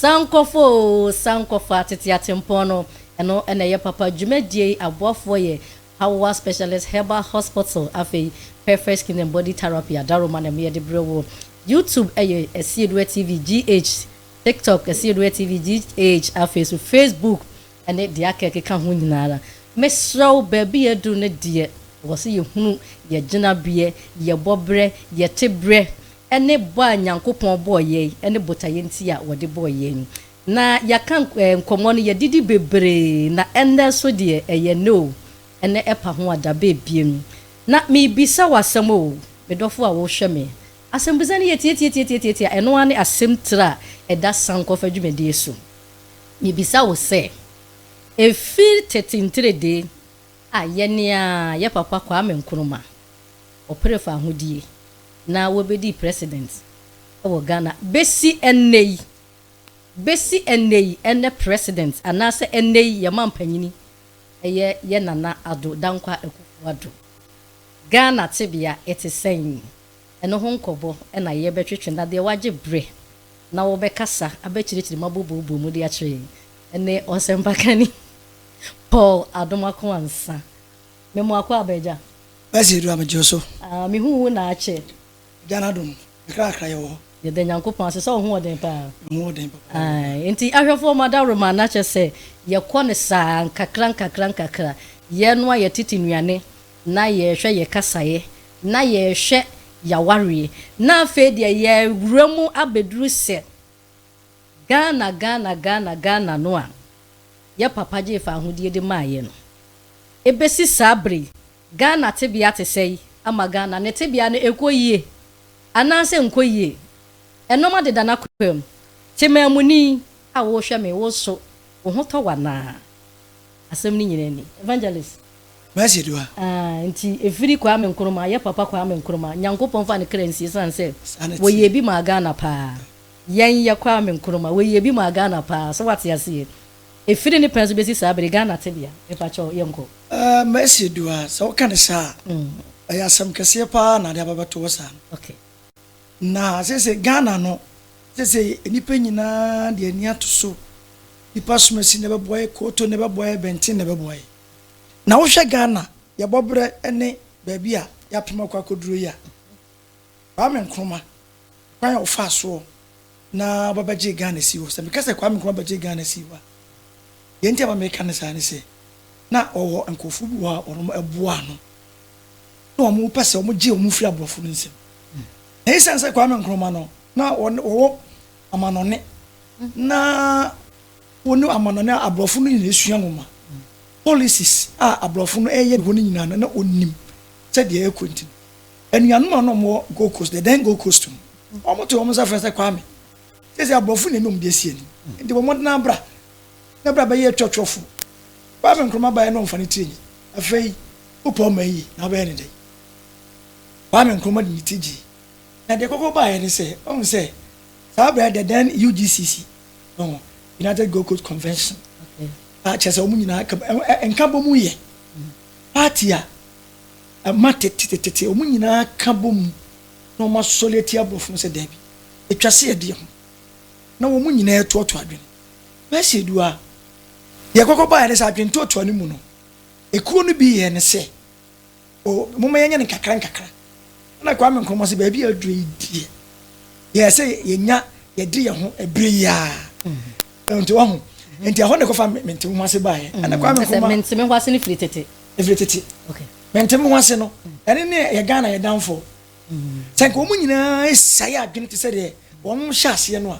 Sankɔfɔ oo sankɔfɔ atete atempɔn no ɛno na ɛyɛ papa dwumadie yi aboafoɔ yɛ Hawoah Specialist Herbal Hospital afei Perfect Skin and Body Therapy Adaroma na ɛmu yɛde brɛ wo YouTube ɛyɛ Asieduwa TV GH TikTok Asieduwa TV GH afei so Facebook ne deɛ aka a ɛkeka ho nyina ara, mesrɛ wo, baabi yɛaduru no deɛ, ɛwɔ sɛ yɛhunu yɛn gyinabeɛ, yɛn bɔberɛ, yɛn teberɛ, ne bɔ a Nyankopɔn bɔɔ yɛn, ne botaeɛ nti a wɔde bɔɔ yɛn. Na yɛaka nkɔmmɔ no, yɛdidi bebree, na ɛnnɛ nso deɛ, ɛyɛ nnɛ o, ɛnnɛ ɛpa ho a da bɛɛ biem. Na merebisa wo asɛm o, me dɔfo a worehwɛ me. Asɛmbisa no yɛ tiatiatiatiatiatia, ɛno ara ne asɛmtire a ɛda Sankɔfa dwumadie so. Mibisa wo sɛ, efi tete ntiredee a yɛne a yɛ papa Kwame Nkrumah, ɔpere fahodie na wobedii president wɔ Ghana besi ɛnnɛ yi, besi ɛnnɛ yi, ɛnnɛ president anaasɛ ɛnnɛ yi yɛ manpanyini ɛyɛ yɛ Nana Addo Dankwa Akuffo Addo. Ghana tebea ɛte sɛn? Ɛno ho nkɔbɔ na yɛbɛtwetwe na deɛ wagye bere na wɔbɛkasa abɛkyerɛkyerɛ mu abobɔbobɔ mu de akyerɛ yɛn ne ɔsɛmpakani Paul Adomakoa Nsa. Me moakoa aba agya. Mercy Adua megye wo so. Ah me hu wo naakyɛ. Agya no adom me kra kra yɛwɔ hɔ. Yɛda Nyankopɔn ase sɛ wo ho wɔ den paa. Me ho wɔ den papa. Ae nti ahwɛfoɔ mo adaworoma na kyerɛ sɛ yɛkɔ no saa nkakra nkakra nkakra. Yɛnoa yɛtete nnuane na yɛrehwɛ yɛ kasaeɛ, na yɛrehwɛ y'awareɛ, na afei deɛ y'awura mu abɛduru sɛ Ghana Ghana Ghana Ghana no a yɛ papa gyee fa ahodie de maaeɛ no. Ɛbɛsi saa berɛ yi Ghana tebea te sɛi ama Ghana ne tebea no ɛkɔ yie anaa sɛ nkɔ yie? Ɛnɔma deda n'akwam, Temaamuni a wohwɛ me wo nso wo ho tɔ wo anaa? Asɛm no nyina ni. Evangelist. Mercy Dua. Aah nti ɛfiri Kwame Nkrumah yɛ papa Kwame Nkrumah Nyankopɔn nfa ne kra nsie ɛsiane sɛ wɔyɛɛ bi maa Ghana paa Yɛn yɛ Kwame Nkrumah wɔyɛɛ bi maa Ghana paa so wate aseɛ Ɛfiri ne pɛn so bɛsi saa bere Ghana tebea mepakyɛw yɛnkɔ. Aah Mercy Dua sɛ woka no saa a ɛyɛ asɛm kɛseɛ paa na ade aba bɛto wo saa no. Okay. Na seesei Ghana no, seesei nnipa nyinaa de ani ato so. Nnipa asomasi na ɛbɛboa yɛn, Kooto na ɛbɛboa yɛn, Bɛnten na ɛbɛboa yɛn. Na wohwɛ Ghana, yɛn bɔberɛ ne baabi a yɛapem akɔ akɔduro yi a, Kwame Nkrumah, kwan a ɔfaa soɔ na ɔbɛbɛgyee Ghana sii hɔ, sɛ meka sɛ Kwame Nkrumah bɛgyee Ghana sii hɔ a, deɛ nti a ɛma meka ne saa ne sɛ, na ɔwɔ nkurɔfoɔ bi wɔ hɔ a wɔboaa no. na wɔpɛ sɛ wɔgye wɔn firi aborɔfo no nsam. Na esiane sɛ Kwame Nkrumah no na wɔwɔ amanɔne na wɔne amanɔne a aborɔfo no nyinaa sua nwoma policies a aborɔfo no ɛyɛ hɔ no nyinaa no na onim sɛdeɛ ɛkɔ nti no anuanom a na wɔwɔ Gold Coast the then Gold Coast no wɔn to wɔn nsa frɛ sɛ Kwame sɛ sɛ aborɔfo na ɛne wɔn de asi anim nti wɔn mmɔden abra na bra bɛyɛ twɛtwɛfo Kwame Nkrumah baeɛ na wɔmfa ne tiri nyi afei Wopɛ ɔman yi na wobɛyɛ no dɛn? Kwame Nkrumah de ne ti gyee. Na deɛ ɛkɔkɔ baeɛ ne sɛ, wahu sɛ saa berɛ the then UGCC, ɔho, United Gold Coast Convention, a kyerɛ sɛ wɔn nyinaa ka nka bɔ mu yɛ party a ɛma tetetete wɔn nyinaa ka bɔ mu na wɔn asɔre atia aborɔfo no sɛ daabi atwa se ɛdeɛ ho na wɔn nyinaa ɛtoɔtoa adwene. Mɛsi edu a deɛ ɛkɔkɔ baeɛ ne sɛ adwene toɔtoa no mu no Ekuo no bi yɛɛ no sɛ, O, momma yɛnyɛ no nkakra nkakra. Ɛna Kwame Nkrumah se, Baabi a aduro yi deɛ, yɛɛ sɛ yɛnya yɛde yɛn ho ɛbere yi ara. Nti wahu? Nti ɛhɔ na ɛkɔfa Mentemehoase baeɛ. Ɛna Kwame Nkrumah. Ɛsɛ Mentemehoase no firi tete. Ɛfiri tete. Okay. Mentemehoase no, ɛne ne yɛ Ghana yɛ danfoɔ. Sɛ nka wɔn nyinaa ɛsiae adwene te sɛ deɛ wɔn hyɛ aseɛ no a.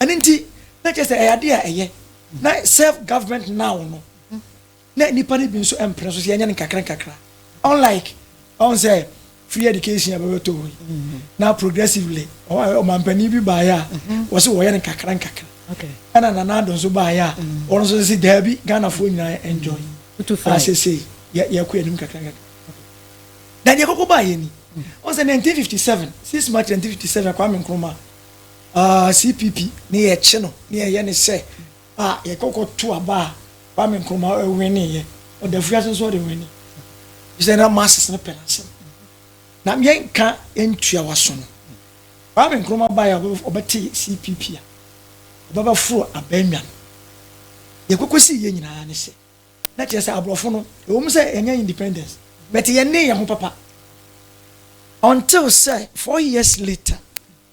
Ɛno nti, na kyerɛ sɛ ɛyɛ ade a ɛyɛ. Na self government now no, na nnipa no bi nso mpene so sɛ yɛnyɛ no nkakra nkakra. Unlike, ɔn sɛ free education a bɛbɛtɔ hɔ yi, mm-hmm. na progressively, ɔmampanin bi baeɛ a, mm-hmm. wɔse wɔyɛ no nkakra nkakra. Ɛna Nana Addo nso baeɛ a, mm-hmm. wɔn nso sɛ daabi Ghanafoɔ nyinaa enjoy. Asese yɛkɔ anim kakra nkakra. Na deɛ kɔkɔ baeɛ ni, ɔn sɛ 1957, 6 March 1957, Kwame Nkrumah, Aah CPP ne yɛ kye no ne yɛ yɛ ne sɛ ah yɛ kɔ kɔ to aba a Kwame Nkrumah ɔ winne yɛ ɔda afuase nso ɔde winne ɛfiri sɛ na masses no pɛ n'asɛm na yɛ nka yɛ ntua waso no Kwame Nkrumah baeɛ a ɔbɛ te CPP a ɔbɛ bɛ foro abɛn nwa no yɛ kɔ kɔ si yɛ nyinaa ne sɛ na kyerɛ sɛ aborɔfo no ɛwɔ mu sɛ yɛnyɛ independence but yɛ ne yɛ ho papa until sɛ four years later.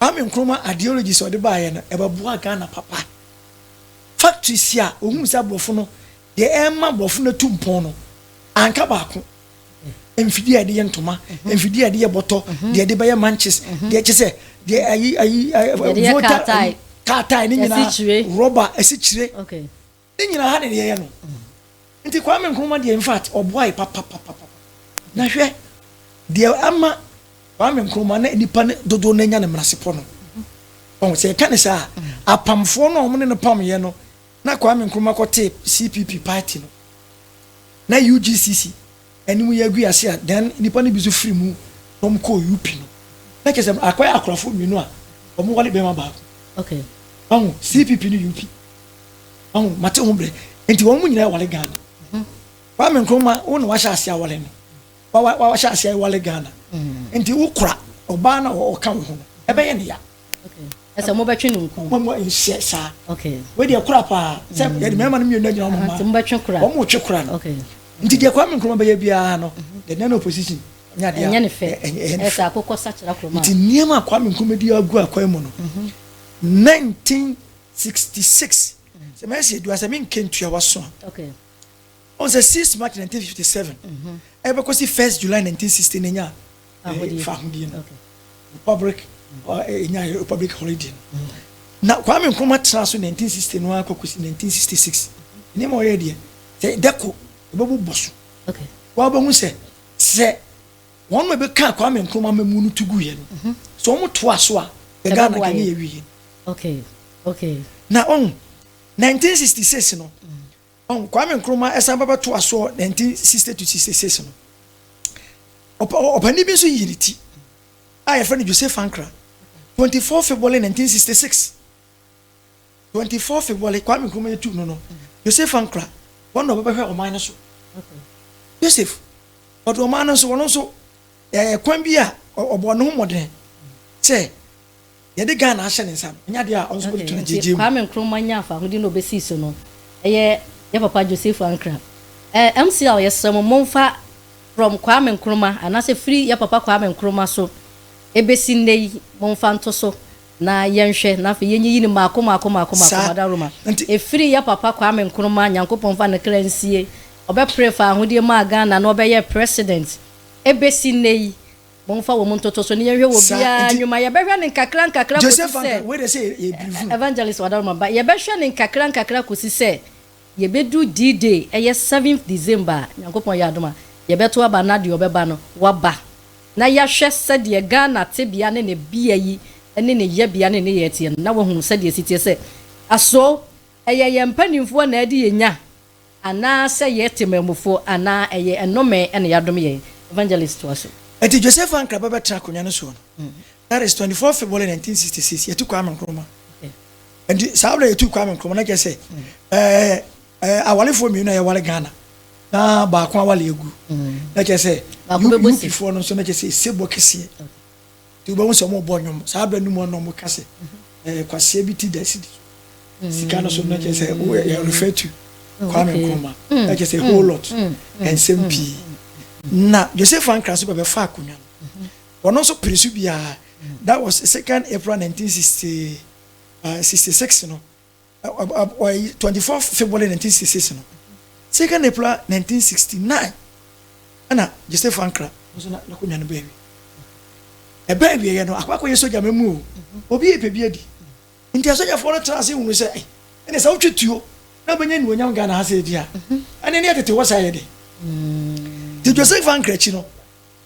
Kwame Nkrumah ideologies a ɔde baeɛ no, ɛbɛboa Ghana papa. Factories a ɔhuu sɛ aborɔfo no, deɛ ɛma aborɔfo no atu mpɔn no, anka baako. Mfidie a yɛde yɛ ntoma, mfidie a yɛde yɛ bɔtɔ, deɛ yɛde bɛyɛ manches, deɛ kyɛ sɛ, deɛ ayi, ayi, voter, kaa tae ne nyinaa, rɔba, asikyire. Ne nyina ha ne deɛ yɛ no nti Kwame Nkrumah deɛ infact ɔboae papapapapa na hwɛ deɛ ama Kwame Nkrumah na nipa no dodoɔ no anya ne mmerasepɔ no ɔho sɛ yɛka ne saa apamfoɔ no a wɔn ne no pamyɛ no na Kwame Nkrumah kɔtee CPP party no na UGCC ɛne mu yɛ gui ase a then nnipa no bi nso firi mu na wɔn kɔɔ UP no na kyerɛ sɛ akɔyɛ akorɔfo mmienu a wɔn wale bɛrima baako okay ɔho CPP ne UP ɔho mate ho brɛ nti wɔn mu nyinaa wale Ghana mhm. Kwame Nkrumah wo na wahyɛ ase awale no wahyɛ ase awale Ghana mhm. nti wokora ɔbaa na ɔka wo ho no ɛbɛyɛ ne ya ɛsɛ mobɛtwe no nku. Wɔn nhyɛ saa. Wei deɛ kora paa sɛ mm. yɛde mmarima no mmienu agyina wɔn mma. Mobɛtwe kora. Wɔn twe kora no. Nti deɛ Kwame Nkrumah bɛyɛ biara no, mm-hmm. the non opposition nyɛ adeɛ. Ɛnyɛ ne fɛ. Ɛsɛ akokɔ sakyera kuroma. Nti nneɛma a Kwame Nkrumah di agu akwan mu no, 1966 mm-hmm. sɛ mɛsi edua sɛ menkentua waso a. Ɔn sɛ six March nineteen fifty seven ɛbɛkɔsi first July nineteen sixty na enyaa eh, fahodie no republic eh, enyaa eh, republic holiday no na Kwame Nkrumah tena so nineteen sixty no ara kɔkɔsi nineteen sixty six nneɛma ɔyɛ deɛ sɛ dɛko ɛbɛbu bɔ so wɔabɛhu sɛ sɛ wɔn mu ɛbɛka Kwame Nkrumah mɛmu no tu gu yɛ no sɛ wɔn to aso a yɛ Ghana kɛ ne yɛ wie na ɔn nineteen sixty six no. Mm. Hon Kwame Nkrumah san ba bɛtoa so wɔ 1960-66 no. Ɔpa ɔpanin bi nso yii ne ti a yɛfrɛ no José Fankran, 24 February 1966. 24 February Kwame Nkrumah yɛtuu no no, José Fankran, wɔn na ɔbɛbɛhwɛ ɔman no so. Joseph, ɔde ɔman no nso, ɔno nso, yɛayɛ kwan bi a ɔ- ɔbɔɔ ne ho mmɔden sɛ Yɛde Ghana ahyɛ ne nsa no, ɛnyɛ adeɛ a ɔno nso bɛtoto no gyegyeem. Kwame Nkrumah nyaa fahodie na ɔbɛsii so no, ɛyɛ yɛ papa Joseph Ankrah. Ɛɛ MCL yɛsrɛ mo momfa from Kwame Nkrumah anaasɛ firi yɛ papa Kwame Nkrumah so ɛbɛsi nnɛ yi momfa nto so na yɛnhwɛ na afei yɛnyiyi no mmaako mmaako mmaako mmaako Saa Madaroma nti, ɛfiri yɛ papa Kwame Nkrumah Nyankopɔn mfa ne kra nsie ɔbɛpere fahodie maa Ghana na ɔbɛyɛɛ President ɛbɛsi nnɛ yi Momfa wɔn ntoto so na yɛnhwɛ wɔ obiara nnwuma. Yɛbɛhwɛ no nkakrankakra kɔsi sɛ Evangelist Wadaroma ba. Yɛbɛhwɛ no nkakrankakra kɔsi sɛ yɛbɛduru D-Day, ɛyɛ seventh December a Nyankopɔn yɛ adom a, yɛbɛto aba na deɛ ɔbɛba no, waba. Na yɛahwɛ sɛdeɛ Ghana tebea ne ne bea yi ne ne yɛbea ne ne nneyɛɛ teɛ no, na wɔahunu sɛdeɛ ɛsi teɛ sɛ, aso ɛyɛ yɛn mpanimfoɔ na ɛde yɛn nya, Anaasɛ yɛyɛ temamufo anaa ɛyɛ nnome na yɛadome yɛn? Evangelist toa so. Enti Joseph Ankra ba bɛtena akonnwa no soɔ no, that is twenty four February nineteen sixty six, yɛtu Kwame Nkrumah. Enti saa berɛ a yɛtu Kwame Nkrumah na kyerɛ sɛ ɛɛ ɛɛ awalefoɔ mmienu a yɛware Ghana na baako awale agu na kyerɛ sɛ Baako bɛbɔ si. UPfoɔ no nso na kyerɛ sɛ ɛsebɔ kɛseɛ. nti wobɛhu sɛ wɔbɔ nnwom saa berɛ no mu na wɔka sɛ eh, kwaseɛ bi ti da sidi so sika no so no kyerɛ sɛ woyɛ refer to mm, Kwame Nkrumah mm, kyerɛ sɛ mm, whole lot nsɛm pii na Joseph Ankara nso bɛbɛfa akonnwa no wɔno nso pere so biara that was second April 1966 uh, no Ɔyɛ twenty four February nineteen sixty six no second April nineteen sixty nine ɛna Joseph Ankra nso na n'akonnwa no bɛn awie ɛbɛn awie yɛ no akɔ akɔyɛ sogya mɛmu o obi yɛ pɛbi adi nti asogyafoɔ no tena ase hunu sɛ ɛyɛ ɛne sɛ wotwe tuo na wobɛnya nnuonyam Ghana ha sɛ ɛdi a ɛne ne ɛtete hɔ saa yɛ de nti Joseph Ankra akyi no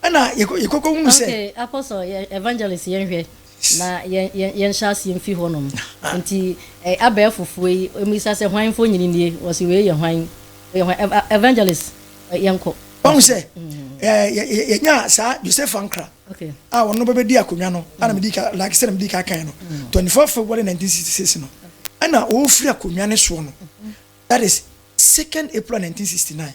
Ɛna yɛkɔ yɛkɔ kɔ hunu sɛ. Okay apostle yɛ evangelist yɛn hwɛ na yɛn yɛn yɛn hyɛ aseɛ mfi hɔ nom nti ɛ abɛɛfo foɔ yi wɔn bisa sɛ hwan foɔ nyini nie wɔsi wei yɛ hwan yɛ hwan ɛ evangelist ɛ yɛn kɔ. Wɔn sɛ ɛ yɛ yɛ yɛ nyaa saa Joseph Ankra okay a wɔn no bɛ bɛ di akonnwa no a na mi di ka like sɛ na mi di ka kan no twenty four February nineteen sixty six no ɛna ɔɔfiri akonnwa ne soɔ no that is second April nineteen sixty nine.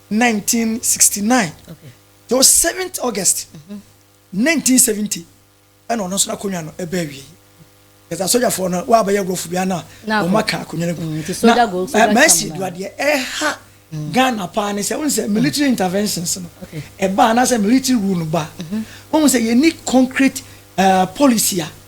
1969 though 7th August 1970 ɛna ɔno nso n'akonnwa no ɛbɛ awie ɛsɛ asogyafoɔ no wabɛyɛ agorɔfo bia na wɔn aka akonnwa no gu mm, na mɛsi eh, eduadeɛ ɛha mm. Ghana paa ne sɛ wɔn sɛ military mm. interventions no ɛba anaasɛ military rule no ba wɔn mm-hmm. sɛ yɛn ni concrete eh, policy a.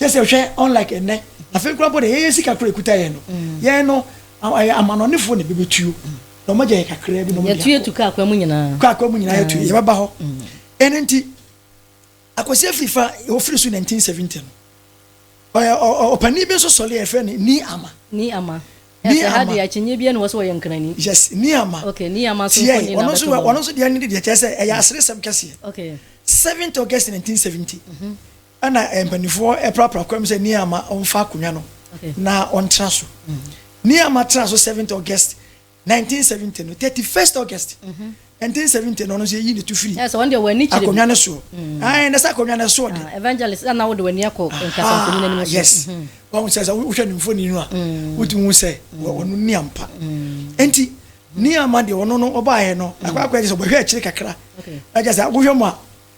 kyɛ sɛ hwɛ unlike ɛnɛ afei koraa mpo de yɛyɛ sika koraa ekuta yɛn no yɛn no ɛyɛ amanɔnefoɔ na ebebetuo na wɔn agya yɛ kakraa bi na wɔn de akɔ yɛtu kaa kwan mu nyinaa kaa kwan mu nyinaa yɛtu yɛ bɛba hɔ ɛne nti akwasi afiri fa ofiri so 1970 no ɔpanin bi nso sɔre yɛfrɛ no ni ama ni ama ni ama deɛ akyinye bi ɛna wɔsɔ wɔyɛ nkrani yes ni ama okay ni ama so tiɛ ɔno nso ɔno nso deɛ ne de deɛ kyɛ sɛ ɛyɛ aseresɛm kɛseɛ okay 7th august 1970 Ɛna mpaninfoɔ prapra kɔm sɛ Niama ɔnfa akonwa no na ɔntra so. Niama tra so 7th August 1970 no 31st August 1970 no ɔno nso yɛyi ne to firi akonwa no soɔ. Ae na sɛ akonwa no ɛsoɔ de. Evangelist ana wode w'ani akɔ nkasankonyin anim so. Yes. Wɔn sɛ sɛ wohwɛ ne mfoni no a wotumi hu sɛ ɔno ni ampa. Enti Niama deɛ ɔno no ɔbaeɛ no akɔ akɔ ɛde sɛ ɔbɛhwɛ akyire kakra. Ɛkyɛ sɛ wohwɛ mu a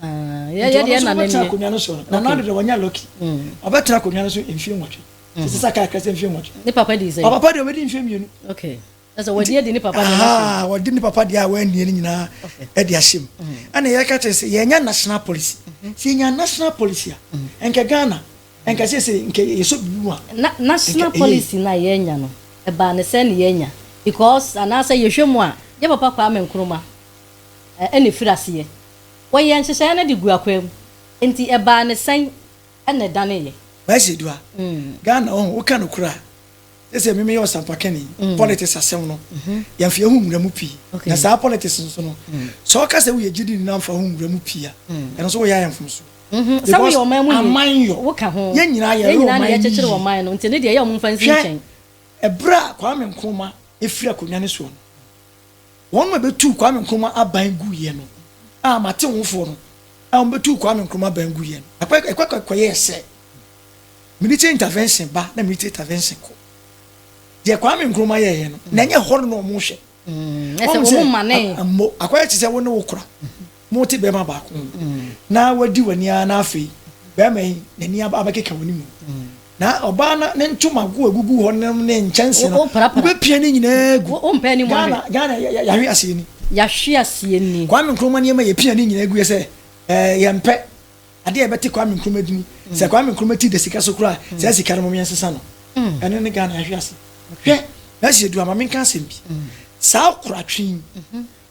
yɛyɛdeɛ na nɛneɛ akonnwa no so no na nado deɛ wɔnyɛ lɔki ɔbɛtena akonnwa no so mfie nwɔtwe sɛ sɛ sɛ kakra sɛ mfie nwɔtwe ne papa di sɛ papa deɛ wɔbɛdi mfie mmienu okay ɛsɛ wɔde adi ne papa deɛ ah wɔde ne papa deɛ a wɔannie no nyinaa ɛde ahyem ɛna yɛka kyerɛ sɛ yɛnya national policy sɛ yɛnya national policy a ɛnkɛ ghana ɛnkɛ sɛ sɛ nkɛ yɛsɔ bibi mu a national policy no a yɛnya no ɛbaa ne sɛ ne yɛnya because anaasɛ yɛhwɛ mu a yɛ papa kwaa me nkroma ɛna ɛfiri aseɛ Wɔyɛɛ nhyehyɛe no de gu akwaamu. Enti ɛbaa no sɛn na ɛdaneeɛ? Kwasi Adua, Ghana ɔho, woka nokorɛ a, seesei me meyɛ ɔsampakani, politics asɛm no, yɛmfa yɛn ho nwura mu pii. Na saa politics nso no, sɛ woka sɛ woyɛ gyidini na womfa wo ho nwura mu pii a, ɛno nso woyɛ ayɛ mfomsoɔ. Sɛ woyɛ ɔman mu ni, woka ho. Yɛn nyinaa yɛyɛ ɔman mu yie. Yɛn nyinaa na yɛkyekyere ɔman no, nti ɛno deɛ ɛyɛ a wɔmfa nsi nkyɛn. Hwɛ ɛberɛ a Kwame Nkrumah firi akonnwa no soɔ no, Wɔn na wɔbetuu Kwame Nkrumah aban guiɛ no, a m'atewofoɔ no a wɔbetuu Kwame Nkrumah aban guiɛ no. Ɛkɔ ɛkɔ ɛkɔ ɛkɔyɛɛ sɛ military intervention ba na military intervention kɔ. Deɛ Kwame Nkrumah yɛɛyɛ no, na ɛnyɛ hɔ no na wɔhwɛ. Wɔn sɛ, ammo akɔyɛ te sɛ wo ne wo kora. Mote barima baako ho na wadi w'ani ara na afei barima yi n'ani aba abɛkeka w'ani mu. Na ɔbaa no ne ntoma go agugu hɔ nom ne nkyɛnse no, wobɛpia ne nyinaa gu. Ghana, Ghana yɛahwe aseɛ ni. Yɛahwe aseɛ ni. Kwame Nkrumah nneɛma yɛpia ne nyinaa gu sɛ yɛmpɛ. Adeɛ a yɛbɛte Kwame Nkrumah dini. Sɛ Kwame Nkrumah ti da sika so koraa, saa sika no mom yɛnsesa no. Ɛno ne Ghana yɛahwe ase. Hwɛ, mɛsi edu ama menka asɛm bi. Saa koratwe yi,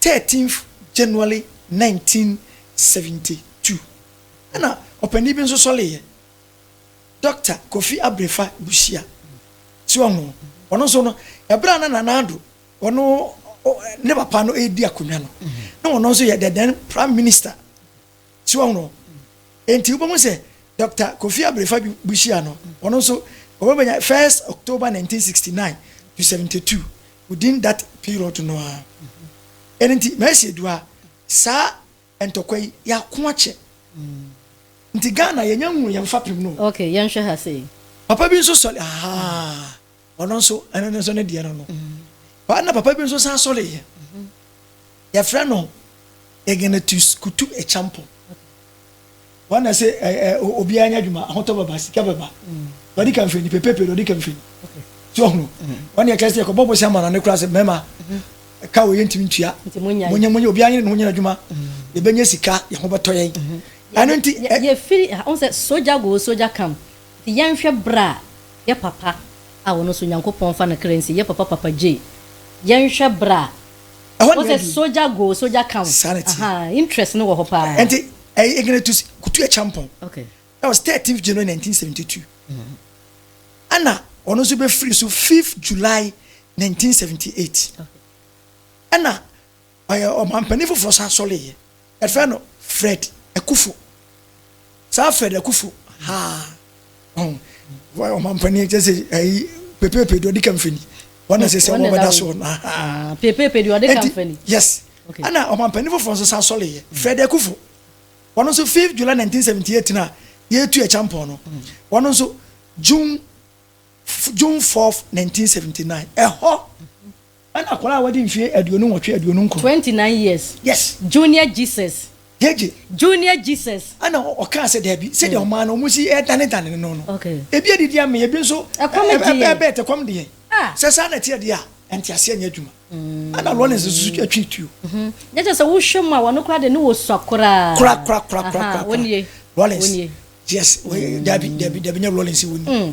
13th January 1972 na ɔpanyin bi nso sɔreeɛ, Dɔkta Kofi Abrefa Busia. So wahu? Ɔno nso no, ɛberɛ a na Nana Addo ɔno ne papa no redi akonnwa no, na ɔno nso yɛ the then Prime Minister. So wahu no? Enti wobɛhu sɛ Dɔkta Kofi Abrefa Busia no, ɔno nso ɔbɛbɛnya 1st October 1969 to 72 within that period no ara. Ɛno nti Mercy Adua, saa ntɔkwa yi yɛako akyɛ. Nti Ghana yɛnya nhunu yɛn fapem no o. Okay, yɛnhwɛ ha sei. Papa bi nso sɔre, ahaa. ɔno nso ɛno no nso ne deɛ no no paa na papa bi nso san sɔre yɛ yɛfrɛ no Ignatius Kutu Echampo wɔn na sɛ ɛɛ obiara nya adwuma ahotɔ bɛba sika bɛba wɔde ka mfoni pepepe wɔde ka mfoni so ɔhunu wɔn yɛ kɛse ɛkɔbɔ bɔ si ama na ne kura sɛ mɛma ɛka wɔ yɛ ntumi ntua monyɛ monyɛ obiara nyɛ ne ho nyɛ adwuma yɛbɛnya sika yɛ ho bɛtɔ yɛn ɛno nti yɛfiri ɔn sɛ soja go soja kam Nti yɛnhwɛ bere a yɛ papa a ɔno nso Nyankopɔn fa no kra nsi yɛ papa papa gyei yɛnhwɛ bere a Ɛhɔ deɛ wɔsɛ soja go soja count Saa na ɛteɛ. ahaa interest no wɔ hɔ paa. Ɛnti ɛyɛ Ignatius Kutu Acheampong Ok. that was 13th January 1972 ɛna ɔno nso bɛfiri so 5th July 1978 ɛna Ɔyɛ ɔmanpanin foforɔ san sɔreeɛ. Yɛfrɛ no Fred Akufo. Saa Fred Akufo, haa, ɔho, wɔyɛ ɔmanpanin, kyɛ sɛ ɛyi, pepepe deɛ ɔdi kan fani. Wɔn na sɛ sɛ wɔn bɛda soɔ no, ahaa. Pepepe deɛ ɔdi kan fani. Yes. Okay. Ɛna ɔmanpanin foforɔ nso san sɔreeɛ, mm. Fred Akufo. Wɔn nso 5 July 1978 na yɛtu ɛkyampɔn no. Mm. Wɔn nso June June 4 1979. Ɛhɔ. Ɛna akwadaa a wadi mfie aduonu nwɔtwe, aduonu nkron. Twenty nine years. Yes. Junior Jesus. Gyegye. Junior Jesus. Ɛna ɔkaa sɛ daabi, sɛdeɛ hmm. ɔmaa no wɔn si ɛdanedane no no. Okay. Ebi adidi ama ebi nso. Ɛkɔm di yɛn. Ɛbɛɛbɛɛ te kɔm di yɛn. Ah. Sɛ saa na ɛteɛ deɛ a, ɛnte aseɛ nyɛ adwuma. Hmm. Ɛna Lawrence nso atwi tuo. Mhm. Nyɛ kyɛ sɛ wohwɛ mu a wɔn koraa de ne wɔ sua koraa. Kora kora kora kora kora. Wɔn nie. Lawrence. Wɔn nie. Yes. Daabi daabi daabi nyɛ Lawrence wɔn nie. Hmm.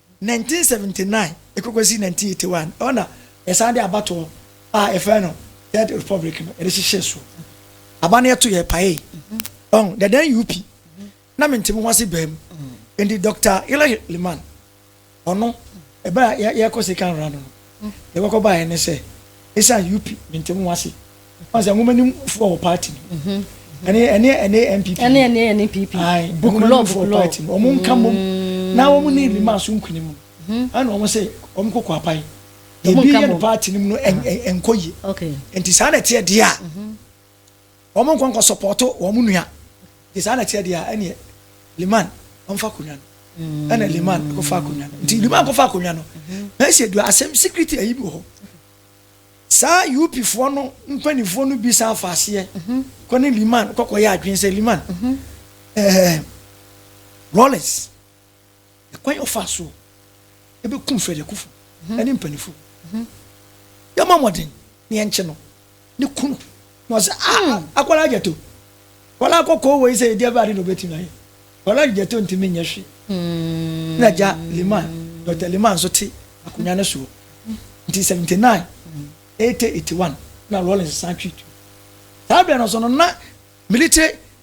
1979 de kɔsi 1981, ɛhɔ na yɛsan de abatoɔ a yɛfrɛ no Third Republic no yɛde hyehyɛɛ so. Aba no yɛto yɛ pae. Ɔn, dada NUP na mente me ho ase baa mu. Enti Dɔkta Hillary Limann, ɔno, ɛbɛ a yɛkɔ Sekan Rano no, Nea ɛkɔkɔ baeɛ ne sɛ, esiane UP ne ntam nwansi, wɔn sɛ nwoma no mufo wɔ party no mu. Mhm. Ɛne ɛne ɛne NPP. Ɛne ɛne ɛne PP. Ayi, book law, book law. Party no, wɔn nka mom. Mm. Na wɔn ne rima so nkunim. Mhm. Ɛna wɔn sɛ wɔn kɔ kɔ apae. Ebi yɛ no party no mu no ɛnkɔ yie. Okay. Nti saa na ɛteɛ deɛ a. Mhm. Wɔn nkɔ nkɔ sɔpɔto wɔn nua. Nti saa na ɛteɛ deɛ a, ɛneɛ Liman ɔmfa akonnwa no. Ɛna Liman kɔfa akonnwa no. Nti Liman kɔfa akonnwa no. Mɛsi dua asɛm security ayi bi wɔ hɔ. Saa UP foɔ no mpanimfoɔ no bi san fa aseɛ kɔ ne Liman kɔkɔ yɛ adwene sɛ Liman ɛɛ Rollins ne kwan a ɔfaa so bɛ kum Fred Akufu ne mpanyinfo. Yɛ mɔ mɔden na yɛ nkye no ne kunu. Na ɔsɛ a ah, hmm. akwara gyato. Wala akɔkɔ wɔ yi sɛ yɛdi abɛade na obetumi ayɛ. Wala gyato ntumi nyɛ hwe. Hmm. Na gya Liman, Dr. Liman nso te akonnwa no soɔ. Nti 79, 80, 81 na Rawlings san twi tu. Saa berɛ no so no na military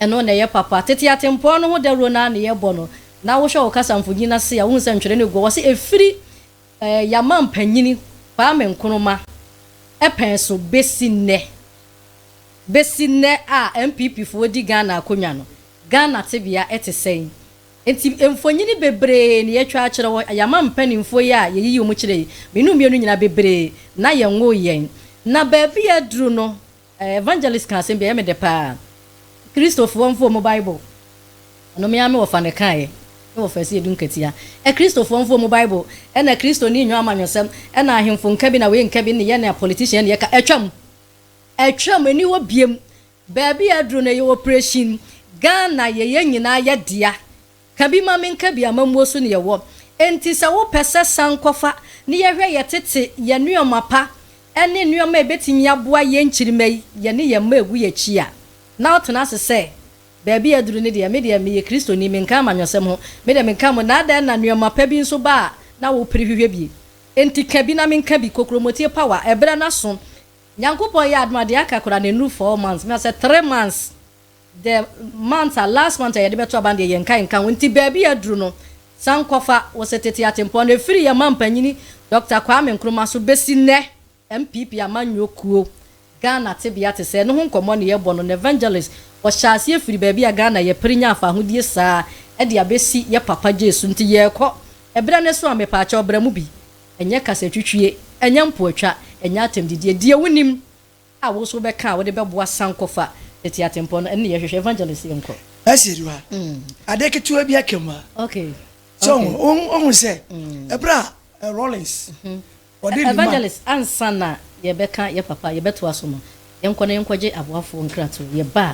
Ɛno na ɛyɛ papa. Tete atempɔn no ho dawuro no ara na yɛbɔ no, na wohwɛ wo kasa mfoni no ase a, wohu sɛ ntwerɛ no agu hɔ. Wɔse ɛfiri eh, yɛn mampanyini Kwame Nkrumah pɛn so bɛsi nnɛ, bɛsi nnɛ a NPPfoɔ di Ghana akonnwa no, Ghana tebea te sɛn. Enti mfonyini bebree na yɛatwa akyerɛ hɔ. Yɛn amampanimfoɔ yi a yɛyiyi wɔn kyerɛ yi, mmienu mmienu nyinaa, bebree na yɛnwoo yɛn. Na baabi a aduru no, Evangelist ka asɛm bi a ɛyɛ me dɛ paa. Kristofoɔ mfa ɔmo Bible. Ɛno me ara me wɔfa na ɛkaeɛ. Me wɔfa asi edu nkatia. Kristofoɔ mfa ɔmo Bible. Ɛna Kristoni nnwo amanyɔsɛm. Ɛna ahemfo nka bi na wei nka bi ne yɛn a politician ne yɛka. Atwam. Atwam. Ɛni hɔ biom. Baabi a aduru no ɛyɛ operation. Ghana yɛyɛ nyinaa yɛ dea. Ka bi ma menka bi amammuo so neɛ ɛwɔ Enti sɛ wopɛ sɛ san kɔfa ne yɛhwɛ yɛ tete yɛ nnoɔma pa ne nnoɔma a ɛbɛtumi aboa yɛn nkyirimma yi yɛne yɛn mma ɛgu yɛn akyi a na wotena ase sɛ baabi a aduru no deɛ me deɛ meyɛ kristoni menka amanyɔsɛm ho me deɛ menka mo na adɛn na nnoɔma pa bi nso ba a na wopere hwehwɛ bi Enti ka bi na menka bi Kokuromoti power ɛberɛ no aso Nyankopɔn yɛ adom a deɛ aka koraa no ɛnnuru four months na sɛ three months The month a last month a yɛde bɛto aba no deɛ yɛnka nka ho nti baabi a aduru no san kɔfa wo sɛ tete atempɔn no ɛfiri yɛn manpanyini Dɔkta Kwame Nkrumah so bɛsi nnɛ NPP amanyɔ kuo Ghana tebea te sɛɛ no ho nkɔmmɔ na yɛrebɔ no na Evangelist ɔhyɛɛ aseɛ firi baabi a Ghana yɛpere nya afahodie saa de abɛsi yɛ papa Gyes so nti yɛrekɔ ɛberɛ no so a mepaakyɛw bra mu bi ɛnyɛ kasatwitwie ɛnyɛ mpoatwa ɛnyɛ atɛmdidie deɛ wonim a wo nso wobɛka a wode bɛboa sankɔfa tete atempɔn no, ɛno na yɛhwehwɛ, evangelist yɛnkɔ. Ɛsɛ ɛdu ha, adeɛ ketewa bi aka mu a, so wohu sɛ ɛberɛ a Rawlings ɔde nnwuma. Evangelist ansa na yɛbɛka yɛ papa yɛbɛtoa so no, yɛnkɔ na yɛnkɔgye aboafoɔ nkratoɔ, yɛba a